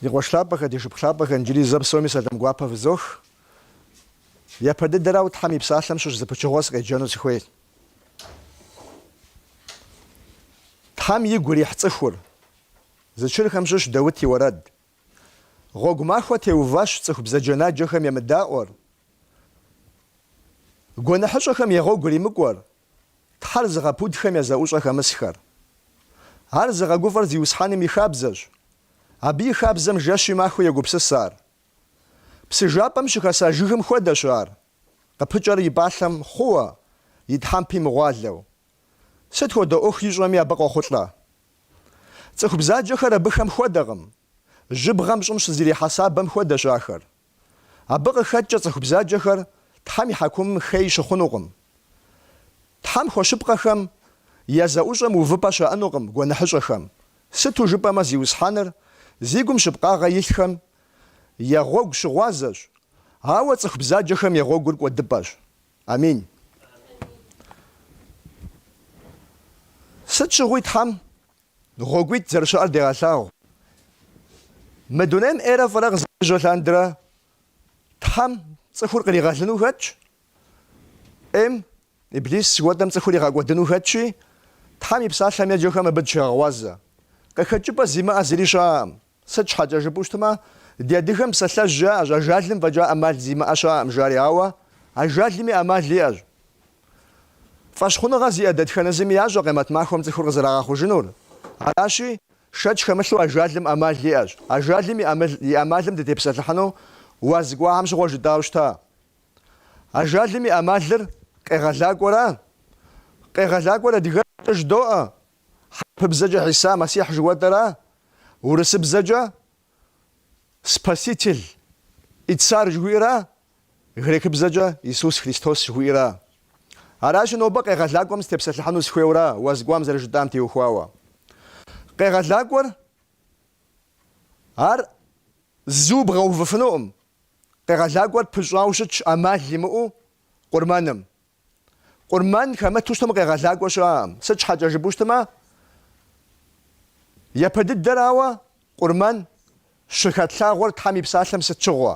Ди къуэш лъапӏэхэ, ди шыпхъу лъапӏэхэ, иджыри зэ псоми сэлам гуапэ фызох. Япэ дыдэрауэ Тхьэм и Псалъэм щыщ зы пычыгъуэ сыкъеджэну сыхуей. Тхьэм игу ирихь цӏыхур. Зэчырхэм щыщ Даут и уэрэд. Гъуэгу махуэ теуващ цӏыху бзаджэнаджэхэм емыдаӏуэр, гуэныхьыщӏэхэм я гъуэгу иримыкӏуэр, Тхьэр зыгъэпудхэм я зэӏущӏэ хэмысхэр. Ар зыгъэгуфӏэр Зиусхьэным и хабзэщ, абы и хабзэм жэщи махуи егупсыс ар. Псы жапӏэм щыхэса жыгым хуэдэщ ар, къыпыкӏэр и пӏалъэм хъууэ, и тхьэмпи мыгъуалэу. Сыт хуэдэ ӏуэху ищӏэми абы къохъулӏэ. Цӏыху бзаджэхэр абыхэм хуэдэкъым. Жьыбгъэм щӏым щызэрихьэ сабэм хуэдэщ ахэр. Абы къыхэкӏкӏэ цӏыху бзаджэхэр Тхьэм и хьэкумым хей щыхъунукъым. Тхьэм хуэщыпкъэхэм я зэӏущӏэм увыпӏэ щаӏэнукъым гуэныхьыщӏэхэм, сыту жыпӏэмэ Зиусхьэныр зи гум щыпкъагъэ илъхэм я гъуэгу щыгъуазэщ, ауэ цӏыху бзаджэхэм я гъуэгур кӏуэдыпӏэщ. Амин. Сыт щыгъуи Тхьэм Гъуэгуитӏ зэрыщыӏэр дегъэлъагъу. Мы дунейм ӏейрэ фӏырэ къызэрежьэ лъандэрэ Тхьэм цӏыхур къригъэлыну хэтщ, ӏейм, Иблис жыхуэтӏэм цӏыхур игъэкӏуэдыну хэтщи, Тхьэм и псалъэм еджэхэм абы дыщегъэгъуазэ. Къыхэкӏыпӏэ зимыӏэ зыри щыӏэкъым. Сыт щхьэкӏэ жыпӏэу щытмэ, ди адыгэм псалъэжь яӏэщ, ажалым фӏэкӏа ӏэмал зимыӏэ щыӏэкъым жари, ауэ ажалми ӏэмал иӏэщ. Фӏэщхъуныгъэ зиӏэ дэтхэнэ зыми ящӏэ къемэт махуэм цӏыхур къызэрагъэхъужынур. Аращи, шэч хэмылъу ажалым ӏэмал иӏэщ. Ажалым и ӏэмалым дытепсэлъыхьыну уаз кӏуахэм щыгъуэ жытӏауэ щыта. Ажалым и ӏэмалыр къегъэлакӏуэра. Къегъэлакӏуэр адыгэбзэкӏэ жыдоӏэ, Хьэрыпыбзэкӏэ Хьиса Мэссихь жыхуэтӏэра. Урысыбзэкӏэ Спаситель и Царь жыхуиӏэра. Грекыбзэкӏэ Иисус Христос жыхуиӏэра. Аращи, нобэ Къегъэлакӏуэм сытепсэлъыхьыну сыхуейуэра уаз кӏуам зэрыжытӏам теухуауэ. Къегъэлакӏуэр ар зу бгъэувыфынукъым. Къегъэлакӏуэр пыщӏауэ щытщ ӏэмал имыӏэу къурмэным. Къурмэн хэмыту щытым къегъэлакӏуэ щыӏэкъым. Сыт щхьэкӏэ жыпӏэу щытмэ, япэ дыдэрауэ Къурмэн щыхэтлъагъуэр Тхьэм и Псалъэм сыт щыгъуэ?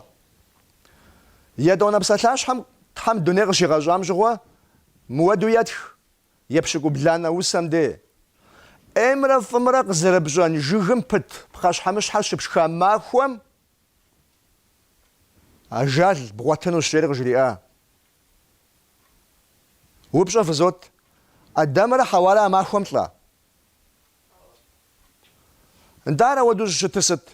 Етӏуанэ псалъащхьэм Тхьэм дуней къыщигъэщӏам щыгъуэ мыуэду етх епщыкӏубланэ усэм де. ӏеймрэ фӏымрэ къызэрыпщӏэн жыгым пыт пхъэщхьэмыщхьэ щыпшха махуэм ажал бгъуэтынущ, жери къыжриӏа Упщӏэ фызот, Адамрэ Хьэуарэ а махуэм лӏа? Нтӏэ ар ауэдэу щӏыщытыр сыт?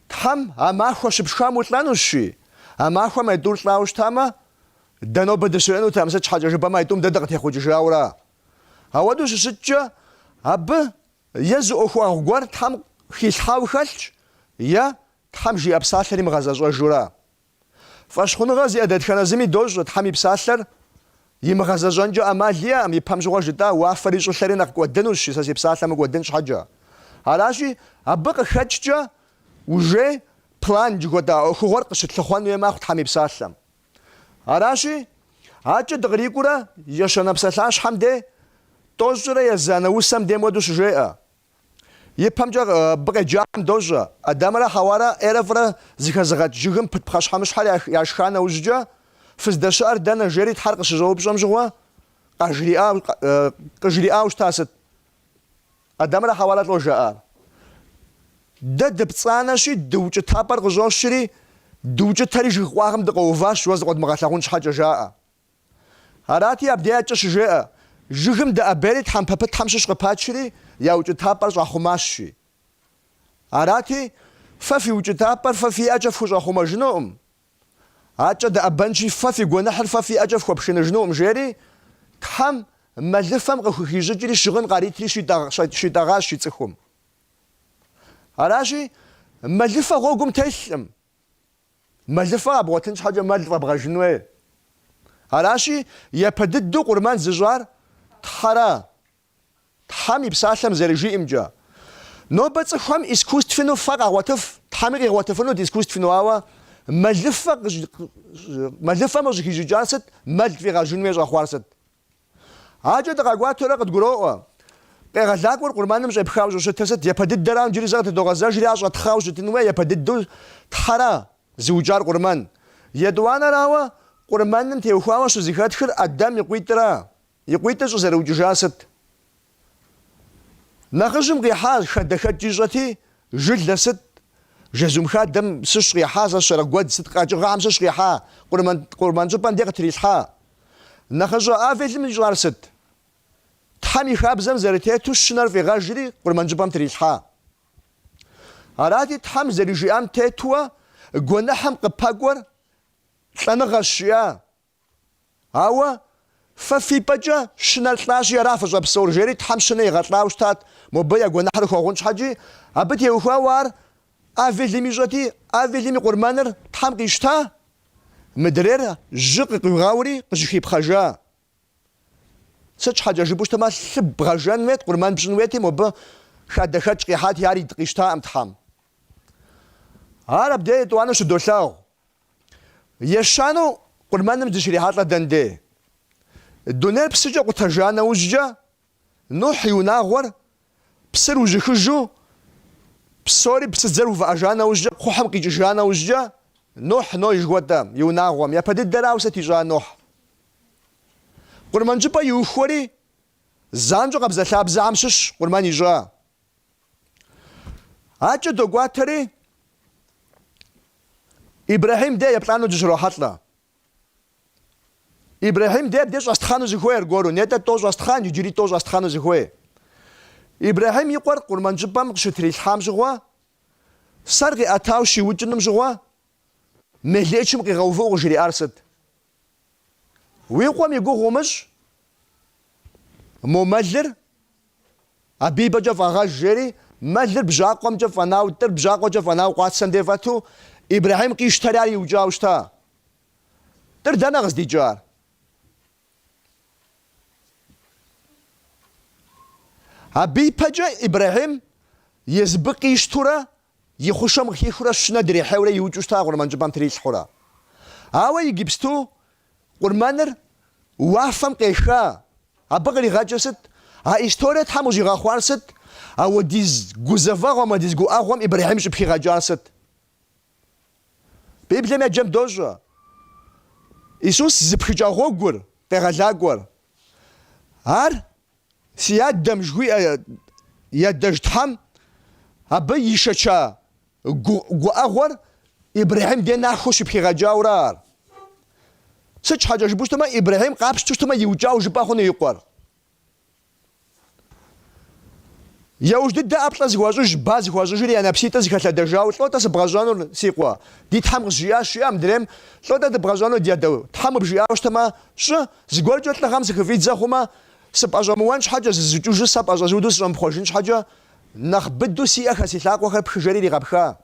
Тхьэм а махуэ щыпшхам улӏэнущи, а махуэм а тӏур лӏауэ щытамэ, дэ нобэ дыщыӏэнутэкъым, сыт щхьэкӏэ жыпӏэмэ а тӏум дэ дыкъытехъукӏыжауэра? Ауэдэу щыщыткӏэ, абы е зы ӏуэхугъуэ гуэр Тхьэм хилъхьауэ хэлъщ, е Тхьэм жиӏэ псалъэр имыгъэзэщӏэжура? Фӏэщхъуныгъэ зиӏэ дэтхэнэ зыми дощӏэ Тхьэм и псалъэр имыгъэзэщӏэнкӏэ ӏэмал иӏэкъым, ипэм щыгъуэ жытӏа уафэри щӏылъэри нэхъ кӏуэдынущи, сэ си псалъэ мыкӏуэдын щхьэкӏэ. Аращи, абы къыхэкӏкӏэ уже план жыхуэтӏа ӏуэхугъуэр къыщытлъыхъуэн хуей мэхъу Тхьэм и псалъэм. Аращи, акӏэ дыкърикӏуурэ ещанэ псалъащхьэм де тӏощӏрэ езанэ усэм де мыуэдэу щыжеӏэ. Ипэмкӏэ абы къеджахэм дощӏэ, Адамрэ Хьэуарэ ӏейрэ фӏырэ зыхэзыгъэкӏ жыгым пыт пхъэщхьэмыщхьэр яшха нэужькӏэ, Фыздэщыӏэр дэнэ? жери Тхьэр къыщыщӏэупщӏэм щыгъуэ, къыжриӏауэ щыта сыт? Адамрэ Хьэуарэ лӏо жаӏар. Дэ дыпцӏанэщи, дыукӏытапӏэр къыщӏощри, дыукӏытэри жыг къуагъым дыкъэуващ, уэ зыкъуэдмыгъэлъагъун щхьэкӏэ, жаӏэ. Арати, Абдеякӏэ щыжеӏэ, Жыгым дэӏэбейри тхьэмпэ пытхэм щыщ къыпачри, я укӏытапӏэр щӏахъумащ, жи. Арати, фэ фи укӏытапӏэр фэ фи ӏэкӏэ фхущӏэхъумэжынукъым. Акӏэ дэӏэбэнщи, фэ фи гуэныхьыр фэ фи ӏэкӏэ фхуэпшыныжынукъым, жери, Тхьэм мэлыфэм къыхухищӏыкӏри щыгъын къаритри щитӏэгъащ и цӏыхум. Аращи, мэлыфэ гъуэгум телъкъым. Мэлыфэ къэбгъуэтын щхьэкӏэ мэл фӏэбгъэжын хуей. Аращи, япэ дыдэу къурмэн зыщӏар Тхьэра. Тхьэм и Псалъэм зэрыжиӏэмкӏэ, Нобэ цӏыхухэм искусственэу фэ къагъуэтыф, Тхьэми къигъуэтыфынут искусственэу, ауэ мэлыфэм къыщӏыхищӏыкӏар сыт, мэл фӏигъэжын хуей щӏэхъуар сыт? Акӏэ дыкъэкӏуатэурэ къыдгуроӏуэ. Къегъэлакӏуэр къурмэным щӏепхауэ щӏыщытыр сыт? Япэ дыдэрам иджыри зэ къытыдогъэзэжри ар щӏэтхъауэ щытын хуей, япэ дыдэу Тхьэра зыукӏар къурмэн. Етӏуанэрауэ, къурмэным теухуауэ щызэхэтхыр Адэм и къуитӏра? И къуитӏыр щӏызэрыукӏыжар сыт? Нэхъыжьым къихьа хадэхэкӏ ищӏэти, жылэ сыт, жэзум хадэм сыщ къихьа, сэ сщӏэрэ, гуэдз сыт къэкӏыгъэхэм сыщ къихьа, къурмэн щӏыпӏэм де къытрилъхьа. Нэхъыщӏэ Авелым ищӏар сыт? Тхьэм и хабзэм зэрытету щынэр фӏигъэжри, къурмэн щӏыпӏэм трилъхьа. Арати, Тхьэм зэрыжиӏам тетуэ гуэныхьым къыпэкӏуэр лӏэныгъэщ, жиӏа Ауэ фэ фи пӏэкӏэ щынэр лӏащи, ара фыщӏэпсэур? жери Тхьэм щынэ игъэлӏауэ щытат, мобы я гуэныхьыр хуэгъун щхьэкӏи. Абы теухуауэ ар Авелым ищӏэти, Авелым и къурмэныр Тхьэм къищта, мыдрейр жьы къыкъуигъэури, къыжыхипхъэжа. Сыт щхьэкӏэ жыпӏэу щытмэ, лъы бгъэжэн хуейт, къурмэн пщӏын хуейти, мобы хадэхэкӏ къихьати, ар ид къищтаӏым Тхьэм. Ар абдей етӏуанэу щыдолъагъу, Ещанэу къурмэным дыщрихьэлӏэ дэн де? Дунейр псыкӏэ къутэжа нэужькӏэ, Нухь и унагъуэр псыр ужьыхыжу, псори псыдзэр увыӏэжа нэужькӏэ, кхъухьым къикӏыжа нэужькӏэ, Нухь, Ной жыхуэтӏэм, и унагъуэм, япэ дыдэрауэ сыт ищӏа Нухь? Къурмэн щӏыпӏэ иухуэри, занщӏэу къабзэлъабзэхэм щыщ къурмэн ищӏа. Акӏэ докӏуатэри, Ибрэхьим де еплӏану дыщрохьэлӏэ. Ибрэхьим де абде щӏэстхъану зыхуей аргуэру, нетӏэ тӏо щӏэстхъан, иджыри тӏо щӏэстхъану зыхуей. Ибрэхьим и къуэр къурмэн щӏыпӏэм къыщытрилъхьам щыгъуэ, сэр къиӏэтау щиукӏыным щыгъуэ, мелыӏычым къигъэувыӏэу къыжриӏар сыт? Уи къуэм и гугъу умыщӏ, мо мэлыр абы и пӏэкӏэ фӏэгъэж, жери, мэлыр бжьакъуэмкӏэ фӏэнау, тӏыр бжьакъуэкӏэ фӏэнау къуацэм де фӏэту, Ибрэхьим къищтэри ар иукӏауэ щыта. Тӏыр дэнэ къыздикӏар? Абы и пэкӏэ Ибрэхьим езыбы къищтурэ И хъушэм къыхихыурэ щынэ дрихьейурэ иукӏыу щыта къурмэн щӏыпӏэм трилъхьурэ. Ауэ иджыпсту къурмэныр уафэм къеха. Абы къригъэкӏыр сыт? А историе Тхьэм къыщӏигъэхъуар сыт? Ауэдиз гузэвэгъуэм, ауэдиз гуӏэгъуэм Ибрэхьим щӏыпхигъэкӏар сыт? Библием еджэм дощӏэ Исус зыпхыкӏа гъуэгур къегъэлакӏуэр. Ар Си адэм жыхуиӏэ ядэжь Тхьэм, абы ишэча гуӏэгъуэр Ибрэхьим дей нахуэу щыпхигъэкӏауэрэ ар. Сыт щхьэкӏэ жыпӏэу щытмэ, Ибрэхьим къапщту щытмэ, иукӏауэ жыпӏэ хъуну и къуэр. Яужь дыдэ ӏэплӏэ зыхуащӏыж, ба зыхуащӏыжри я нэпситӏыр зыхэлъэдэжауэ, Лӏо-тӏэ сыбгъэщӏэнур, си къуэ? Ди Тхьэм къызжиӏащ, жиӏэ мыдрейм, Лӏо-тӏэ дыбгъэщӏэнур, ди адэу? Тхьэм къыбжиӏауэ щытмэ, щӏы, зыгуэркӏэ лӏыгъэм сыхыфӏидзэ хъумэ, Сыпӏэщӏэмыуэн щхьэкӏэ, зызукӏыжу сэ пӏэщӏэзуду сыщӏэмыпхъуэжын щхьэкӏэ, нэхъ быду си ӏэхэ си лъакъуэхэр пхы жери иригъэпха,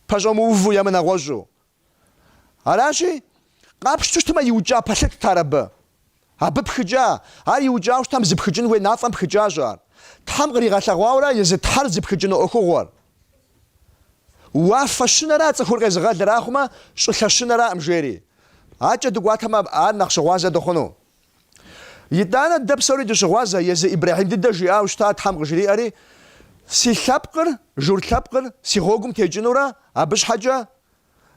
пэщӏэмыуву е мынэгъуэщӏу. Аращи, къапщту щытмэ, иукӏа пэлъытт ар абы. Абы пхыкӏа, ар иукӏауэ щытам зыпхыкӏын хуей мафӏэм пхыкӏащ ар, Тхьэм къригъэлъэгъуауэрэ езы Тхьэр зыпхыкӏыну ӏуэхугъуэр. Уафэ щынэра цӏыхур къезыгъэлыр, ахъумэ, щӏылъэ щынэраӏым, жери. Акӏэ дыкӏуатэмэ, ар нэхъ щыгъуазэ дыхъуну. Итӏанэ дэ псори дыщыгъуазэ, езы Ибрэхьим дыдэ жиӏауэ щыта Тхьэм къыжриӏэри, Си лъэпкъыр, журт лъэпкъыр, си гъуэгум текӏынурэ, абы щхьэкӏэ,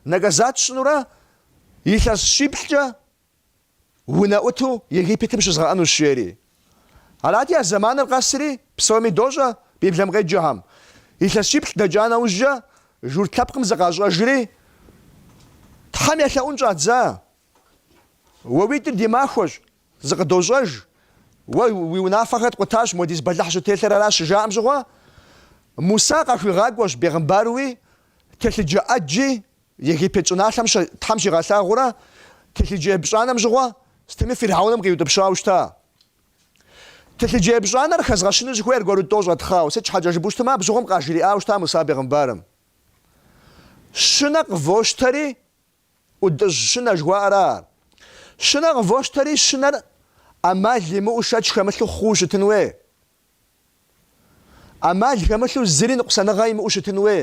наказат сщӏынурэ, илъэс щиплӏкӏэ, унэӏуту Египетым щызгъэӏэнущ, жери. Арати, а зэманыр къэсри, псоми дощӏэ Библэм къеджэхэм. Илъэс щиплӏ дэкӏа нэужькӏэ, журт лъэпкъым зыкъащӏэжри, Тхьэм елъэӏун щӏадза. Уэ уитӏыр ди махуэщ, зыкъыдощӏэж, уэ уи унафэхэр ткъутащ, модиз бэлыхь щӏыттелъыр аращ, щыжаӏэм щыгъуэ, Мусэ къахуигъакӏуэщ бегъымбаруи, телъыджэ ӏэджи, Египет щӏыналъэм Тхьэм щигъэлъагъуурэ телъыджэ епщӏанэм щыгъуэ сытми Фиргьэуным къиутӏыпщауэ щыта. Телъыджэ епщӏанэр хэзгъэщыну сыхуейщ аргуэру тӏо щӏэтхъау, сыт щхьэкӏэ жыпӏэу щытмэ, абы щыгъуэм къажриӏауэ щыта Муса бегъымбарым. Щынэ къывощтэри ӏутӏыж щынэ жыхуаӏэра ар. Щынэ къывощтэри щынэр ӏэмал имыӏэу шэч хэмылъу хъууэ щытын уей. ӏэмал хэмылъу зыри ныкъусаныгъэ имыӏэу щытын уей.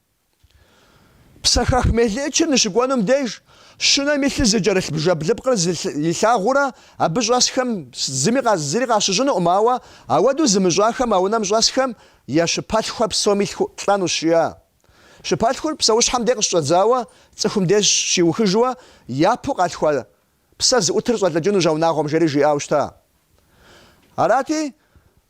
Псэхэх мелыӏычыр ныщыкӏуэнум деж, щынэм и лъы зыкӏэрылъ бжэблыпкъыр илъагъурэ абы щӏэсхэм зыми зыри къащыщӏынукъым, ауэ ауэдэу зымыщӏахэм а унэм щӏэсхэм я щыпэлъхухэр псоми лӏэнущ, жиӏа. Щыпэлъхур псэущхьэм де къыщыщӏэдзауэ цӏыхум деж щиухыжуэ япэу къалъхуа Псэ зыӏутыр щӏэлӏыкӏынущ а унагъуэм, жери жиӏауэ щыта. Арати,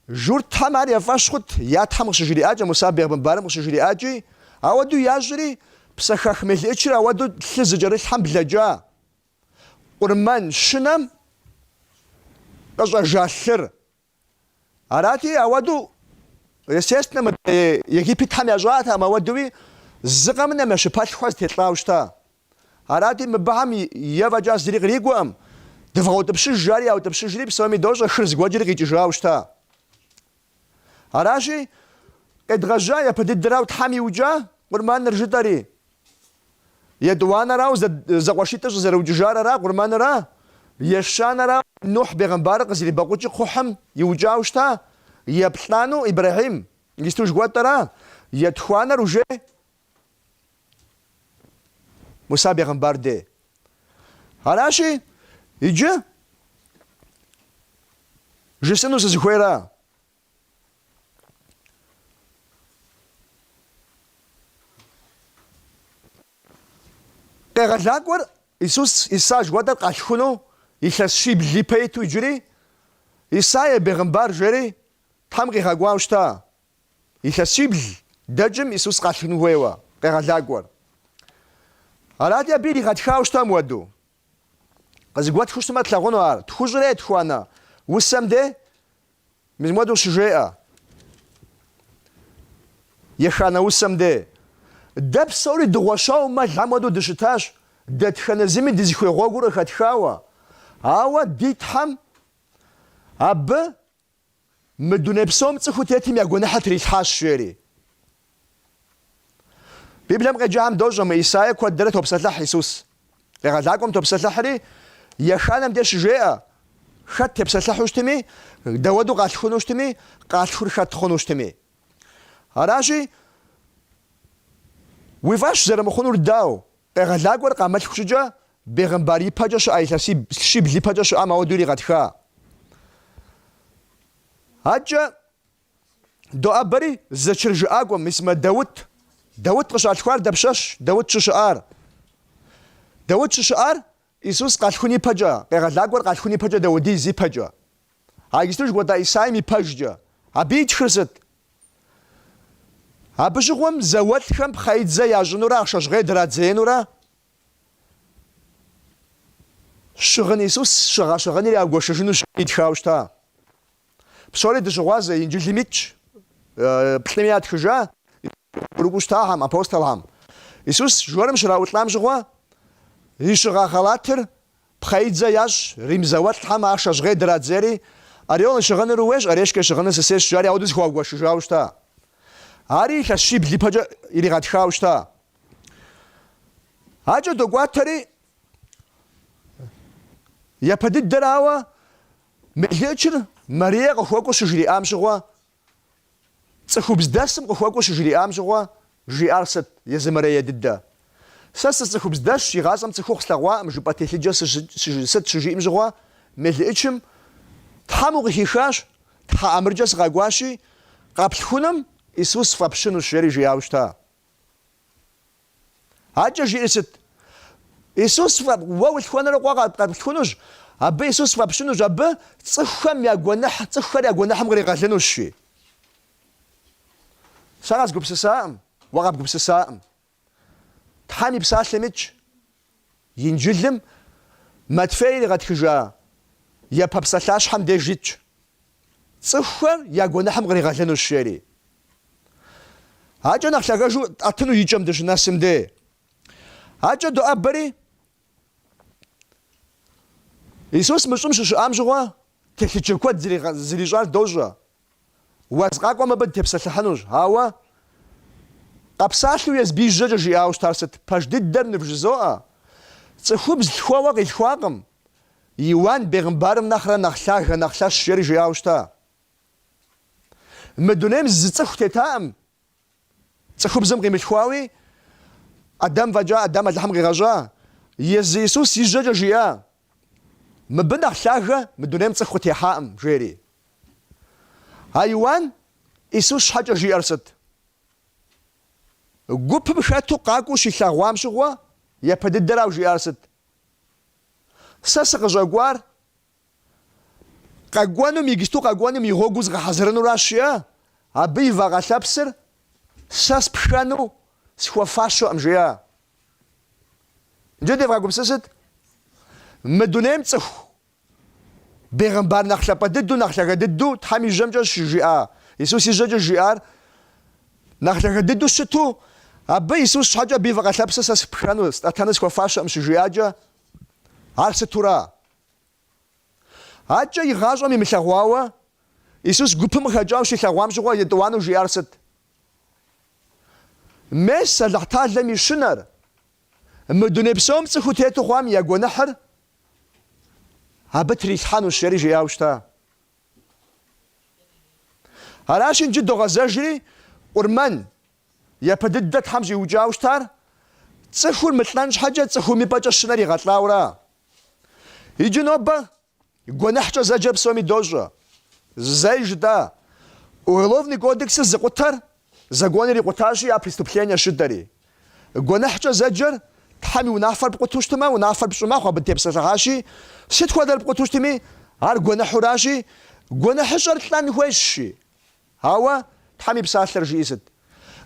журтхэм ар я фӏэщ хъут, я тхьэм къыщыжриӏакӏэ, Муса бегъымбарым къыщыжриӏакӏи, ауэду ящӏри, псэхэх мелыӏычыр ауэду лъы зыкӏэрылъхэм блэкӏа. Къурмэн щынэм къыщӏэжа лъыр. Арати, ауэду, естественно, Египетхэм ящӏатэӏым ауэдуи зы къэмынэу я щыпэлъхур зэтелӏауэ щыта. Арати, мыбыхэм е фӏэкӏа зыри кърикӏуэкъым, дывгъэутӏыпщыж жари яутӏыпщыжри, псоми дощӏэ хыр зэгуэкӏри къикӏыжауэ щыта. Аращи, къедгъэжьа япэ дыдэрау Тхьэм иукӏа къурманыр жытӏэри. Етӏуанэрау зэкъуэшитӏыр щӏызэрыукӏыжар ара, къурмэнра, ещанэра, Нухь бегъымбарыр къызэрибэкъукӏыу кхъухьым иукӏау щыта, еплӏанэу, Ибрэхьим, исту жыхуэтӏэра, етхуанэр уже Муса бегъымбар де. Аращи, иджы жысӏыну сызыхуейра, Къегъэлакӏуэр Исус Иса жыхуэтӏэр къалъхуну илъэс щибл ипэ иту иджыри, Исаия бегъымбар жери Тхьэм къигъэкӏуауэ щыта? Илъэс щибл дэкӏым Исус къалъхун хуейуэ къегъэлакӏуэр. Арати, абы иригъэтхауэ щыта муэду. Къызыгуэтхыу щытмэ тлъагъуну ар, тхущӏрэ етхуанэ усэм де Мис муэду щыжеӏэ еханэ усэм де. Дэ псори дыгъуэщауэ мэлхэм хуэдэу дыщытащ, дэтхэнэ зыми дызыхуей гъуэгур къыхэтхауэ. Ауэ ди Тхьэм абы мы дуней псом цӏыхуу тетым я гуэныхьыр трилъхьащ, жери. Библием къеджам дощӏэ мы Исаия куэдрэ топсэлъыхь Исус. Къегъэлакӏуэм топсэлъыхьри, еханэм де щыжеӏэ, хэт тепсэлъыхьу щытми, дауэду къалъхуну щытми, къалъхур хэт хъуну щытми. Аращи, уи фӏэщ зэрымыхъунур дау, къегъэлакӏуэр къамылъху щӏыкӏэ бегъымбар ипэкӏэ щыӏа, илъэс щибл ипэкӏэ щыӏам ауэду иригъэтха. Адэкӏэ Доӏэбэри зэчыр жыӏакӏуэ мис мы Даут. Даут къыщалъхуар дапщэщ, Даут щыщыӏар? Даут щыщыӏар Исус къалъхун ипэкӏэ, къегъэлакӏуэр къалъхун ипэкӏэ даудиз ипэкӏэ. А иджыпсту жыхуэтӏа Исаим ипэжкӏэ. Абы итхыр сыт? Абы щыгъуэм зауэлӏхэм пхъэидзэ ящӏынурэ ахъшэ жьгъей драдзеинурэ щыгъын Исус щыгъа щыгъыныр ягуэшыжыну итхауэ щыта. Псори дыщыгъуазэ Инджылым итщ, плӏыми ятхыжа урыкӏыу щытахэм, апостолхэм. Исус жорым щраӏулӏам щыгъуэ, и щыгъа халатыр пхъэидзэ ящӏ, рим зауэлӏхэм ахъшэ жьгъей драдзейри, Орел и щыгъыныр ууейщ, решкэ и щыгъыныр сысейщ, жари ауэду зэхуагуэшыжауэ щыта. Ари илъэс щибл ипэкӏэ иригъэтхауэ щыта. Акӏэ докӏуатэри, япэ дыдэрауэ, Мелыӏычыр Марие къыхуэкӏуэу щыжриӏам щыгъуэ, цӏыхубздэсым къыхуэкӏуэу щыжриӏам щыгъуэ жиӏар сыт, езы Марие дыдэ? Сэ сыцӏыхубздэсщ, игъащӏэм цӏыхухъу слъэгъуакъым жыпӏэ телъыджэр сыт щыжиӏым щыгъуэ, мелыӏычым, Тхьэм укъыхихащ, Тхьэ ӏэмыркӏэ сыкъакӏуащи, къэплъхуным Исус фӏэпщынущ, жери жиӏауэ щыта? Адэкӏэ жиӏэр сыт? Исус фӏэп, уэ улъхуэнурэ къуэ къэплъхунущ, абы Исус фӏэпщынущ, абы цӏыхухэм я гуэныхь, цӏыхухэр я гуэныхьым къригъэлынущ, жи. Сэ къэзгупсысакъым, уэ къэбгупсысакъым. Тхьэм и псалъэм итщ, Инджылым Матфей иригъэтхыжа япэ псалъащхьэм деж итщ, Цӏыхухэр я гуэныхьым къригъэлынущ, жери. Акӏэ нэхъ лъагэжу ӏэтыну икӏэм дыщынэсым де, акӏэ доӏэбэри, Исус мы щӏым щыщыӏам щыгъуэ телъыджэ куэд зэрищӏар дощӏэ. Уаз къакӏуэм абы дытепсэлъыхьынущ. Ауэ къэпсалъэу езым и жьэкӏэ жиӏауэ щытар сыт? Пэж дыдэр нывжызоӏэ, цӏыхубз лъхуэуэ къилъхуакъым, Иуан бегъымбарым нэхърэ нэхъ лъагэ, нэхъ лъэщ жери жиӏауэ щыта? Мы дунейм зы цӏыху тетаӏым, Цӏыхубзым къимылъхуауи, Адам фӏэкӏа, Адам Алыхьым къигъэщӏа, езы Исус и жьэкӏэ жиӏа, Мыбы нэхъ лъагэ мы дунейм цӏыху къытехьаӏым, жери. А Иуан Исус щхьэкӏэ жиӏэр сыт? Гупым хэту къакӏуэу щилъэгъуам щыгъуэ япэ дыдэрауэ жиӏар сыт? Сэ сыкъыщӏэкӏуар Къэкӏуэнум, иджыпсту къэкӏуэнум и гъуэгу згъэхьэзырынуращ жиӏэ, абы и вакъэ лъэпсыр сэ спхэну схуэфащэкъым, жиӏэ. Иджы девгъэгупсысыт. Мы дунейм цӏыху бегъымбар нэхъ лъапӏэ дыдэу, нэхъ лъагэ дыдэу Тхьэм и жьэмкӏэ щыжиӏа Исус и жьэкӏэ жиӏар нэхъ лъагэ дыдэу щыту, абы Исус щхьэкӏэ абы и вакъэ лъэпсыр сэ спхэну, стӏэтэну схуэфащэкъым щыжиӏакӏэ, ар сытура? Акӏэ игъащӏэм имылъэгъуауэ Исус гупым къыхэкӏауэ щилъэгъуам щыгъуэ етӏуанэу жиӏар сыт? Мес, Алыхьталэм и щынэр, мы дуней псом цӏыхуу тету хъуам я гуэныхьыр абы трилъхьэнущ, жери жиӏауэ щыта. Аращи, иджы догъэзэжри, Къурмэн, япэ дыдэ Тхьэм щӏиукӏауэ щытар, Цӏыхур мылӏэн щхьэкӏэ цӏыхум и пӏэкӏэ щынэр игъэлӏауэра? Иджы нобэ гуэныхькӏэ зэджэр псоми дощӏэ, зэ жытӏа, Уголовный кодексыр зыкъутэр законыр икъутащи, а преступлениещ жыдоӏэри. Гуэныхькӏэ зэджэр Тхьэм и унафэр пкъуту щытмэ, унафэр пщӏы мэхъу, абы дытепсэлъыхьащи, сыт хуэдэр пкъуту щытми, ар гуэныхьуращи, гуэныхьыщӏэр лӏэн хуейщи. Ауэ Тхьэм и Псалъэр жиӏи сыт?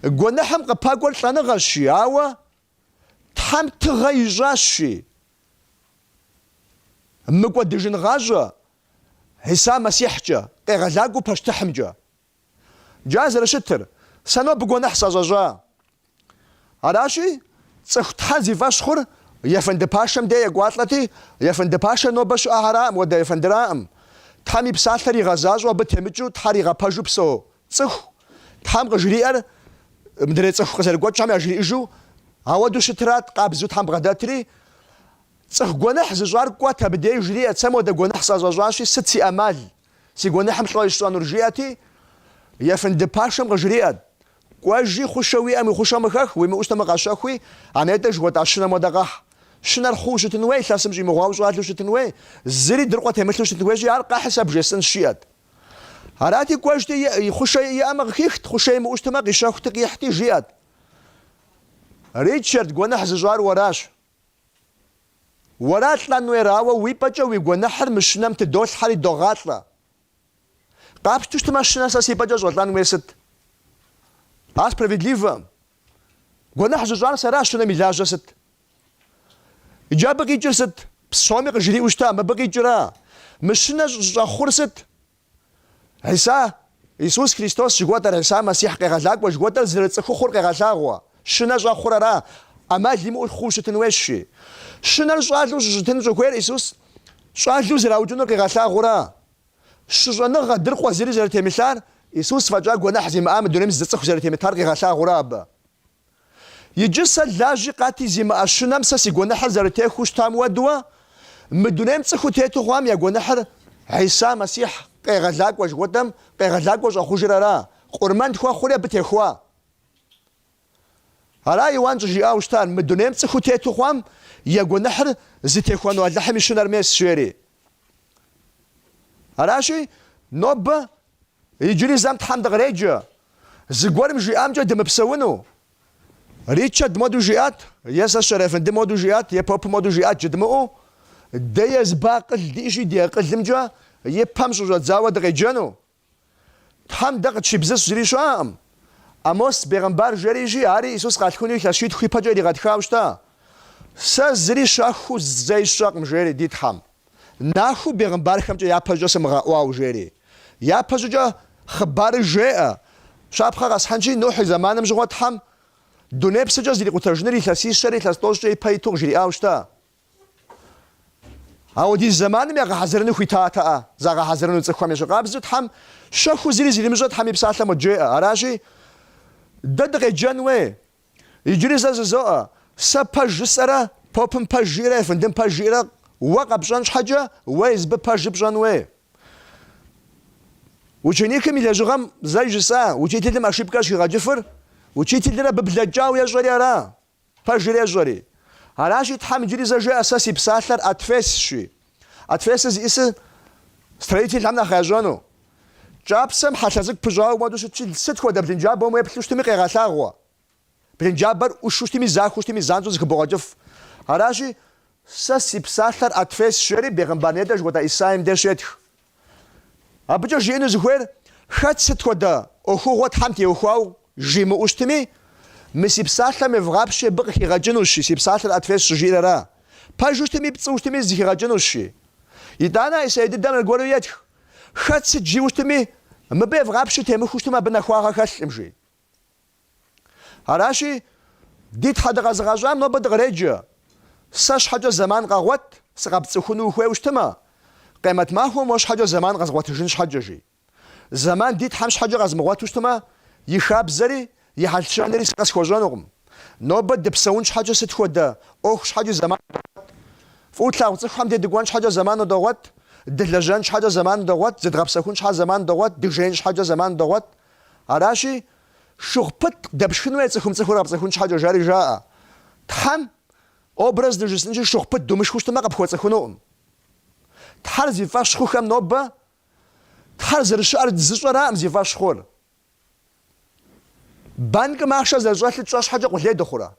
Гуэныхьым къыпэкӏуэр лӏэныгъэщи, ауэ Тхьэм тыгъэ ищӏащи, мыкӏуэдыжын гъащӏэ Иса Мэссихькӏэ, къегъэлакӏуэу пащтыхьымкӏэ. Иджы ар зэрыщытыр, Сэ нобэ гуэныхь сӏэщӏэщӏа. Аращи, цӏыху Тхьэр зи фӏэщхъур ефэнды пашэм де екӏуалӏэти, ефэнды пашэр нобэ щыӏэхэраӏым, уэдэ ефэндыраӏым. Тхьэм и псалъэр игъэзащӏэу абы темыкӏыу Тхьэр игъэпэжу псэу Цӏыху Тхьэм къыжриӏэр мыдрей цӏыху къызэрыгуэкӏхэм яжриӏыжу ауэду щытрат, къабзэу Тхьэм бгъэдэтри, Цӏыху гуэныхь зыщӏар кӏуэт абы деж, жриӏэт, Сэ модэ гуэныхь сӏэщӏэщӏащи, сыт си ӏэмал, си гуэныхьым лӏо ищӏэнур, жиӏэти, ефынды пашэм къыжриӏэт, Кӏуэжи, хъушэ уиӏэм уи хъушэм хэх, уимыӏэу щытэмэ къэщэхуи, а нетӏэ жыхуэтӏа щынэм уэдэ къэхь. Щынэр хъууэ щытын уей, илъэсым щӏимыгъуауэ щӏалэу щытын уей, зыри дыркъуэ темылъу щытын хуейщи, ар къэхьи сэ бжесӏэнщ, жиӏэт. Арати, кӏуэжти, и хъушэ иӏэмэ къыхихт, хъушэ имыӏущтэмэ, къищэхути, къихьти, жиӏэрт, Ричард, гуэныхь зыщӏар уэращ. Уэра лӏэн уейр, ауэ уи пӏэкӏэ уи гуэныхьыр мы щынэм тыдолъхьэри догъалӏэ. Къапщту щытмэ, щынэ сэ си пӏэкӏэ щӏэлӏэн уейр сыт? А справедливо? Гуэныхь зыщӏар сэращ, щынэм и лажьэ сыт? Иджы абы къикӏыр сыт? Псоми къыжриӏэу щыта, мыбы къикӏыра. Мы щынэр щӏэхъур сыт? Хьиса, Исус Христос жыгуэтӏэр, Хьиса Мэссихь къегъэлакӏуэ жыгуэтӏэр зэрыцӏыхухъур къегъэлъагъуэ. Щынэр щӏэхъур ара, ӏэмал имыӏэу хъуу щытын уейщи. Щынэр щӏалэу щыщытын щӏыхуейр Исус щӏалэу зэраукӏынур къигъэлъагъуура. Щыщӏэныгъэ, дыркъуэ зыри зэрытемылъар, Исус фӏэкӏа гуэныхь зимыӏа мы дунейм зы цӏыху зэрытемытар къигъэлъагъуура абы. Иджы сэ лажьи хъати зимыӏэ щынэм сэ си гуэныхьыр зэрытехуэу щытам уэдуэ, мы дунейм цӏыхуу тету хъуам я гуэныхьыр Хьиса Мэссихь къегъэлакӏуэ жыхуэтӏэм къегъэлакӏуэ щӏэхъужыр ара, къурмэн тхуэхъури абы техуа. Ара Иуан щӏыжиӏауэ щытар, мы дунейм цӏыхуу тету хъуам я гуэныхьыр зытехуэну Алыхьым и щынэр мес, жери. Аращи, нобэ иджыри зэм Тхьэм дыкъреджэ, зыгуэрым жиӏамкӏэ дымыпсэуну. Ричард моду жиӏат, е сэ Щэрэфынды моду жиӏат, е Попы моду жиӏат жыдмыӏэу, дэ езыбы акъыл диӏэщи, ди акъылымкӏэ и пэм щӏыщӏэдзауэ дыкъеджэну. Тхьэм дэ къытщибзыщ зыри щыӏэкъым. Амос бегъымбар жери ижи, ари Исус къалъхуну илъэс щитху ипэкӏэ иригъэтхауэ щыта. Сэ зыри щэхуу зэи сщӏэкъым жери ди Тхьэм. Нахуэу бегъымбархэмкӏэ япэщӏыкӏэ сымыгъэӏуауэ жери. Япэщӏыкӏэ хъыбарыр жеӏэ, Щапхъэ къэсхьынщи, Нухь и зэманым щыгъуэ Тхьэм дуней псыкӏэ зэрикъутэжыныр илъэсищэрэ илъэс тӏощӏкӏэ ипэ иту къыжриӏауэ щыта. Ауэдиз зэманым ягъэхьэзырыну хуитатэӏэ, загъэхьэзырыну цӏыхухэм. Ещхьыркъабзэу Тхьэм щэхуу зыри зэримыщӏэр Тхьэм и Псалъэм къыджеӏэ. Аращи, дэ дыкъеджэн уей. Иджыри зэ жызоӏэ, Сэ пэж жысӏэрэ, попым пэж жиӏэрэ, ефэндым пэж жиӏэрэ уэ къэпщӏэн щхьэкӏэ, уэ езыбы пэжыр пщӏэн уей. Ученикым и лэжьыгъэм зэ жысӏа, учителым ошибкэ щӏыхигъэкӏыфыр, учителыр абы блэкӏауэ ещӏэри ара. Пэжыр ещӏэри. Аращи, Тхьэм иджыри зэ жеӏэ, Сэ си псалъэр отвесщи. Отвесыр зиӏысыр строительхэм нэхъ ящӏэну. Кӏапсэм хьэлъэ цӏыкӏу пыщӏауэ модэу щытщи, сыт хуэдэ блынджабэм уеплъу щытми къегъэлъагъуэ. Блынджабэр ӏушу щытми, захуэу щытми, занщӏэу зыхыбогъэкӏыф. Аращи, Сэ си псалъэр отвесщ, жери, бегъымбар нетӏэ жыхуэтӏа Исаим деж щетх. Абыкӏэ жиӏэну зыхуейр, хэт сыт хуэдэ ӏуэхугъуэ Тхьэм теухуауэ жимыӏэу щытми, мы си псалъэм евгъапщи, абы къыхигъэкӏынущи, си псалъэр отвес щыжиӏэр ара? Пэжу щытми, пцӏыу щытми, зыхигъэкӏынущи. Итӏанэ а Исаи дыдэм аргуэру етх, Хэт сыт жиӏэу щытми, мыбы евгъапщи, темыхуэу щытмэ, абы нэхуагъэ хэлъкъым, жи. Аращи, ди Тхьэ дыкъэзыгъэщӏам нобэ дыкъреджэ. Сэ щхьэкӏэ зэман къэгъуэт, сыкъэпцӏыхуну ухуейуэ щытмэ, къемэт махуэм уэ щхьэкӏэ зэман къэзгъуэтыжын щхьэкӏэ, жи. Зэман ди Тхьэм щхьэкӏэ къэзмыгъуэту щытмэ, и хабзэри, и хьэл-щэнэри сэ къэсхуэщӏэнукъым. Нобэ дыпсэун щхьэкӏэ сыт хуэдэ ӏуэху щхьэкӏи зэман догъуэт. Фӏыуэ тлъагъу цӏыхухэм де дыкӏуэн щхьэкӏэ зэман догъуэт, дылэжьэн щхьэкӏэ зэман догъуэт, зыдгъэпсэхун щхьэкӏэ зэман догъуэт, дыжеин щхьэкӏэ зэман догъуэт. Аращи, шыгъу пыт дэпшхын хуей цӏыхум цӏыхур къэпцӏыхун щхьэкӏэ жари жаӏэ. Тхьэм образ дыжысӏэнкӏи шыгъу пыт думышхыу щытмэ къыпхуэцӏыхунукъым. Тхьэр зи фӏэщ хъухэм нобэ Тхьэр зэрыщыӏэр зыщӏэраӏым зи фӏэщ хъур. Банкым ахъшэ зэрыщӏэлъыр тщӏэ щхьэкӏэ къулей дыхъурэ?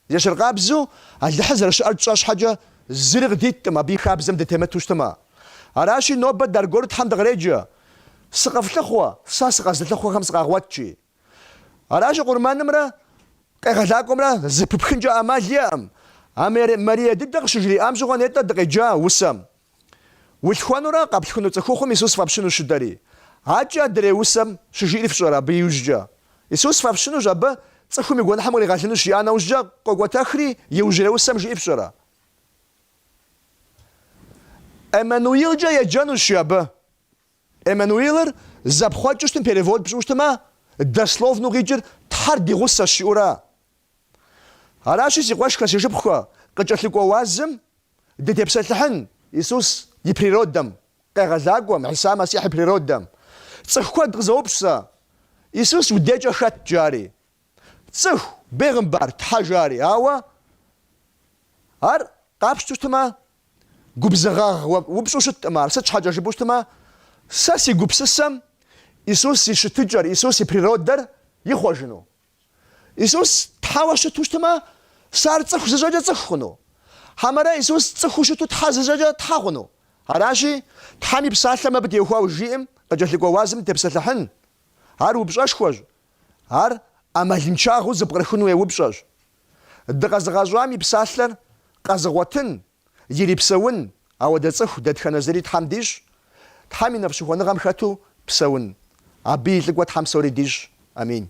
Ещхьыркъабзэу Алыхьыр зэрыщыӏэр тщӏэ щхьэкӏэ, зыри къыдиткъым абы и хабзэм дытемыту щытмэ. Аращи, нобэ дэ аргуэру Тхьэм дыкъреджэ, Сыкъыфлъыхъуэ, сэ сыкъэзылъыхъуэхэм сыкъагъуэт жи. Аращи, къурмэнымрэ къегъэлакӏуэмрэ зыпыпхынкӏэ ӏэмал иӏэкъым. А Марие дыдэ къыщыжриӏам щыгъуэ нетӏэ дыкъеджа усэм. Улъхуэнурэ къэплъхуну цӏыхухъум Исус фӏэпщынущ щыдэри. Адэкӏэ адрей усэм щыжиӏэр фщӏэрэ абы иужькӏэ? Исус фӏэпщынущ абы цӏыхум и гуэныхьым къригъэлынущ жиӏа нэужькӏэ къокӏуэтэхри иужьрей усэм жиӏэр фщӏэрэ? Эммануилкӏэ еджэнущ жи абы. Эммануилыр зэпхъуэкӏыу щытмэ, перевод пщӏыуэ щытмэ, дословну къикӏыр Тхьэр ди гъусэщ жиӏэу ара? Аращи, си къуэшхэ, си шыпхъухэ, къыкӏэлъыкӏуэ уазым дытепсэлъыхьын Исус и природэм, Къегъэлакӏуэм, Хьиса Мэссихь и природэм. Цӏыху куэд къызоупщӏ сэ, Исус уи декӏэ хэт? жари. Цӏыху, Бегъымбар, Тхьэ, жари. Ауэ Ар къапщту щытмэ, губзыгъагъ упщӏэу щыткъым Ар. Сыт щхьэкӏэ жыпӏэу щытмэ, сэ си гупсысэм Исус и щытыкӏэр, Исус и природэр ихъуэжыну. Исус Тхьэуэ щыту щытмэ, сэ ар цӏыху зыщӏэкӏэ цӏыху хъуну? Хьэмэрэ Исус цӏыхуу щыту Тхьэ зыщӏэкӏэ Тхьэ хъуну? Аращи, Тхьэм и Псалъэм абы теухуауэ жиӏэм къыкӏэлъыкӏуэ уазым тепсэлъыхьын. Ар упщӏэшхуэщ, ар ӏэмалыншагъэу зэпкърыхын хуей упщӏэщ. Дыкъэзыгъэщӏам и Псалъэр къэзыгъуэтын Ирипсэун, ауэдэ цӏыху дэтхэнэ зыри Тхьэм дищӏ, Тхьэм и нэфӏщыхуэныгъэм хэту псэун. Абы и лӏыкӏуэ Тхьэм псори дищӏ. Амин.